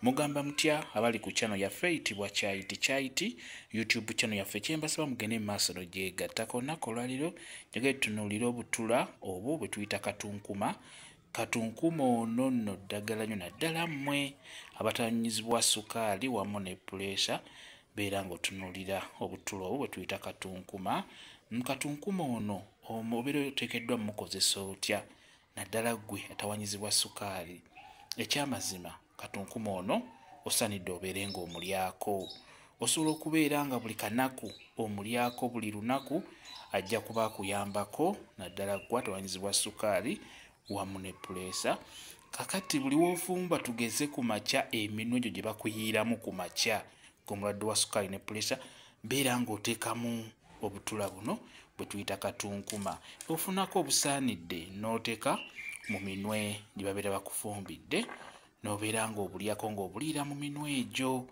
mugamba mutya abali ku channel yaffe eyitibwa kyayiti kyayiti youtube channel yaffe kyembasaba mugende mu maaso nogyegattako olunaku olwaliro njagala tutunuulira obutula obwo bwe tuyita katunkuma katunkuma ono nno ddagala nyo naddala mmwe abatanyizibwa sukaali wamu ne puleesa beera ng'otunuulira obutula obwo bwe tuyita katunkuma mu katunkuma ono omubeera oteekeddwa mukozesa otya naddala ggwe atawanyizibwa sukaali ekyamazima katunkuma ono osanidde obeere ng'omulyako osobola okubeera nga buli kanaku omulyako buli lunaku ajja kuba akuyambako naddala ggwa tawanyizibwa sukaali wamu ne puleesa kakati buli woofumba tugeze ku makya eminwe gyo gye bakuyiiramu ku makya omulwadde wa sukaali ne pulesa beera ng'oteekamu obutula buno bwe tuyita katunkuma ofunako obusaanidde n'oteeka mu minwe gye babeera bakufumbidde n'obeera ng'obulyako ng'obuliira mu minwe egyo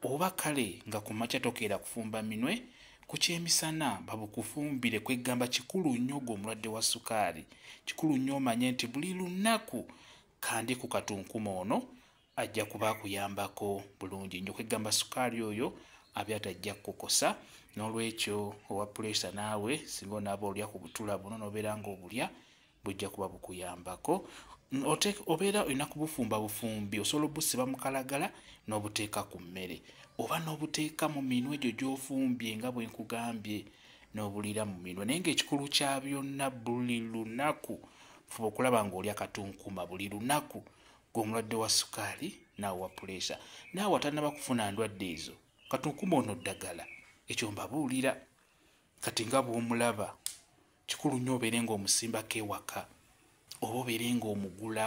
oba kale nga ku makya tokeera kufumba minwe ku kyemisana babukufumbire kweggamba kikulu nnyo gwe omulwadde wa sukaali kikulu nnyo omanye nti buli lunaku kandi ku katunkuma ono ajja kuba akuyambako bulungi nyo kwegamba sukaali oyo abyata ajja kukukosa n'olwekyo owa puleesa naawe singa onaaba olya ku butula buno nobeera nga obulya bujja kuba bukuyambako obeera olina kubufumba bufumbi osobola obusiba mukalagala n'obuteeka ku mmere oba n'obuteeka mu minwe egyo gy'ofumbye nga bwe nkugambye n'obuliira mu minwe naye ngaekikulu kya byonna buli lunaku fuba okulaba ng'olya katunkuma buli lunaku gwe omulwadde wa sukaali naawe wa puleesa naawe atanaba kufuna ndwadde ezo kati nkuma ono ddagala ekyo mbabuulira kati nga bw'omulaba kikulu nnyo obeere ng'omusimbako ewaka oba obeere ng'omugula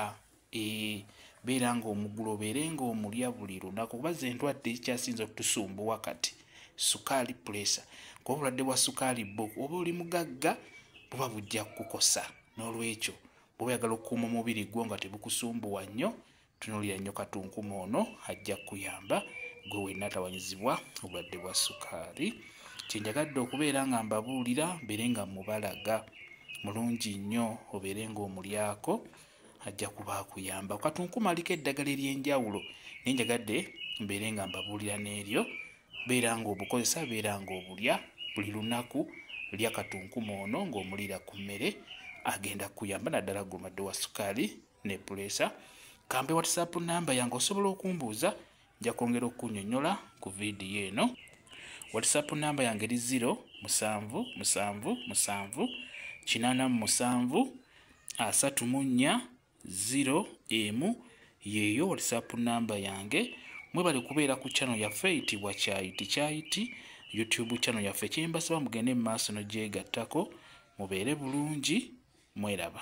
ee beera ng'omugula obeere ng'omulya buli lunaku kuba ze ndwadde ekikyasinza okutusumbuwa kati sukaali puleesa kuba obulwadde bwa sukaali bbo oba oli mugagga buba bujja kukukosa n'olwekyo bwoba oyagala okukuuma omubiri gwo nga tebukusumbuwa nnyo tunulira nnyo katunkuma ono ajja kukuyamba gwe wenna atawanyizibwa obulwadde bwa sukaali kyenjagadde okubeera nga mbabuulira mbeere nga mubalaga mulungi nnyo obeere ngaomulyako ajja kuba akuyamba katunkuma aliko eddagala ery'enjawulo naye njagadde mbeere nga mbabuulira n'eryo beera ng'obukozesa beera ng'obulya buli lunaku lya katunkuma ono ng'omuliira ku mmere agenda kuyamba naddala gulwadde wa sukaali ne puleesa kampe whatsapp namba yange osobola okumbuuza nja kwongera okukunyonyola ku vidiyo eno whatsapp namba yange eri 0 musanvu musanvu musanvu kinana mu musanvu asatu mu nnya 0 emu yeeyo whatsapp namba yange mwebale kubeera ku chano yaffe eyitibwa kyayiti kyayiti youtube chano yaffe kyembasaba mugende mu maaso nogyegattako mubeere bulungi mweraba